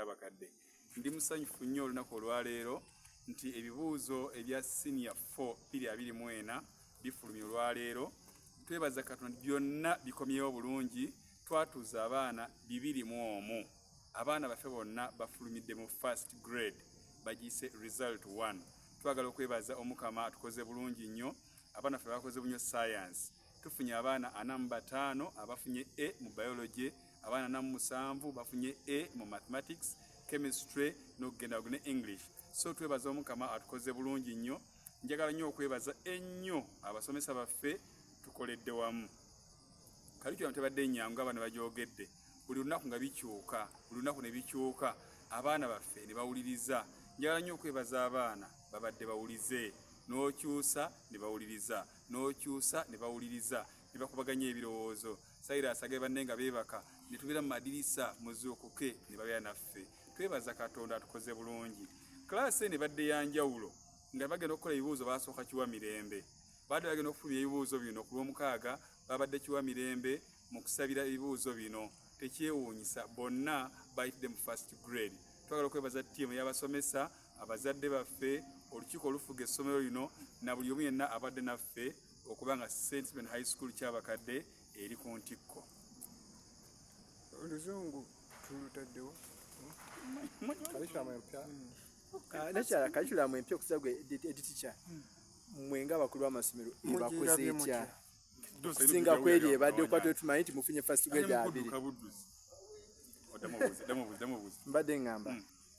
abakadde ndi musanyufu nnyo olunaku olwaleero nti ebibuuzo ebya senior 4 biri abiri mu ena bifulumye olwaleero twebaza katonda byonna bikomyewo bulungi twatuuza abaana bibiri mu omu abaana baffe bonna bafulumidde mu first grade bagiyise result 1 twagala okwebaza omukama tukoze bulungi nnyo abaana ffe bakoze bunyo science tufunye abaana ana mu bataano abafunye e mu biology abaana namu musanvu bafunye a mu mathematics chemistry nokugenda ne english so twebaza omukama atukoze bulungi nnyo njagala nnyo okwebaza ennyo abasomesa baffe tukoledde wamu kalikyona tebadde nyangu abaana bagyogedde buli lunaku nga bikyuka buli lunaku ne bikyuka abaana baffe ne bawuliriza njagala nnyo okwebaza abaana babadde bawulize n'okyusa ne bawuliriza n'okyusa ne bawuliriza ne bakubaganya ebirowoozo sayira asage banne nga beebaka ne tubeera mu madirisa muzuukuke ne babeera naffe twebaza katonda atukoze bulungi kalaasi eno ebadde ya njawulo nga bagenda okukola ebibuuzo baasooka kiwa mirembe baadde bagenda okufulumya ebibuuzo bino ku lw'omukaaga babadde kiwa mirembe mu kusabira ebibuuzo bino tekyewuunyisa bonna bayitidde mu first grade twagala okwebaza ttiimu y'abasomesa abazadde baffe olukiiko olufuga essomero lino na buli omu yenna abadde naffe okuba nga St. Stephen High School ky'abakadde eri ku ntikko. Oluzungu tulutaddewo. Kalikiramu empya. Ah, Nakyala kalikiramu empya okusa gwe editicha hmm. mwe nga bakulu b'amasomero ebakoze etya okusinga kweri ebadde okuba twetumanyi nti mufunye fasitigwe gyabiri mbadde ngamba hmm.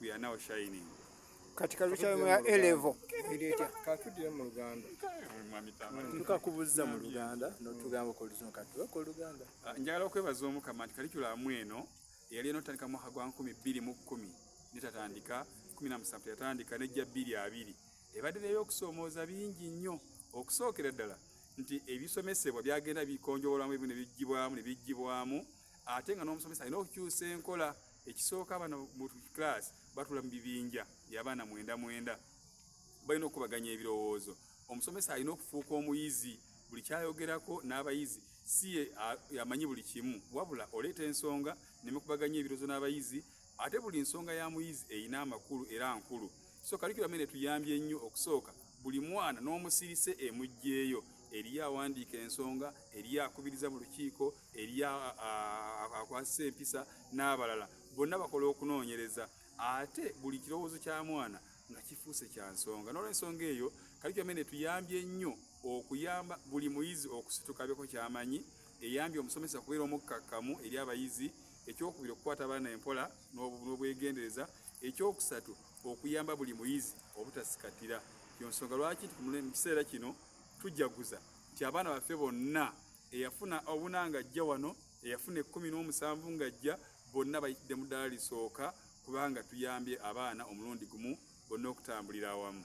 We are now shining. Katika lucha ya elevo ileta katudire mu Uganda tuka kubuza mu Uganda no tugamba ko luzo katwa ko Uganda ah, njagala okwebaza omukama nti kalikula mweno yali eno tandika mu hagwa 2010 nitatandika 17 yatandika ne jja 22 ebadde leyo okusomooza bingi nnyo okusookera ddala nti ebisomesebwa byagenda bikonjowolamu ebimu ne bijjibwamu ne bijjibwamu ate nga n'omusomesa alina okukyusa enkola ekisooka abaana mu class batula mu bibinja byabaana mwenda mwenda balina okukubaganya ebirowoozo omusomesa alina okufuuka omuyizi buli kyayogerako n'abayizi si amanyi buli kimu wabula oleeta ensonga nemukubaganya ebirowoozo n'abayizi ate buli nsonga ya muyizi erina amakulu era nkulu so kalikira mene tuyambye nnyo okusooka buli mwana n'omusirise emugyeyo eriyo awandiika ensonga eriyo akubiriza mu lukiiko eriyo akwasisa empisa n'abalala bonna bakola okunoonyereza ate buli kirowoozo kya mwana nga kifuuse kya nsonga n'olwensonga eyo kalikyamene tuyambye nnyo okuyamba buli muyizi okusitukabyeko kyamanyi eyambye omusomesa okubeera omukkakkamu eri abayizi ekyokubiri okukwata abaana empola n'obwegendereza ekyokusatu okuyamba buli muyizi obutasikatira yonsonga lwaki mu kiseera kino tujjaguza nti abaana baffe bonna eyafuna obuna nga ajja wano eyafuna ekkumi n'omusanvu ng'ajja bonna bayitidde mu ddala lisooka kubanga tuyambye abaana omulundi gumu bonna okutambulira awamu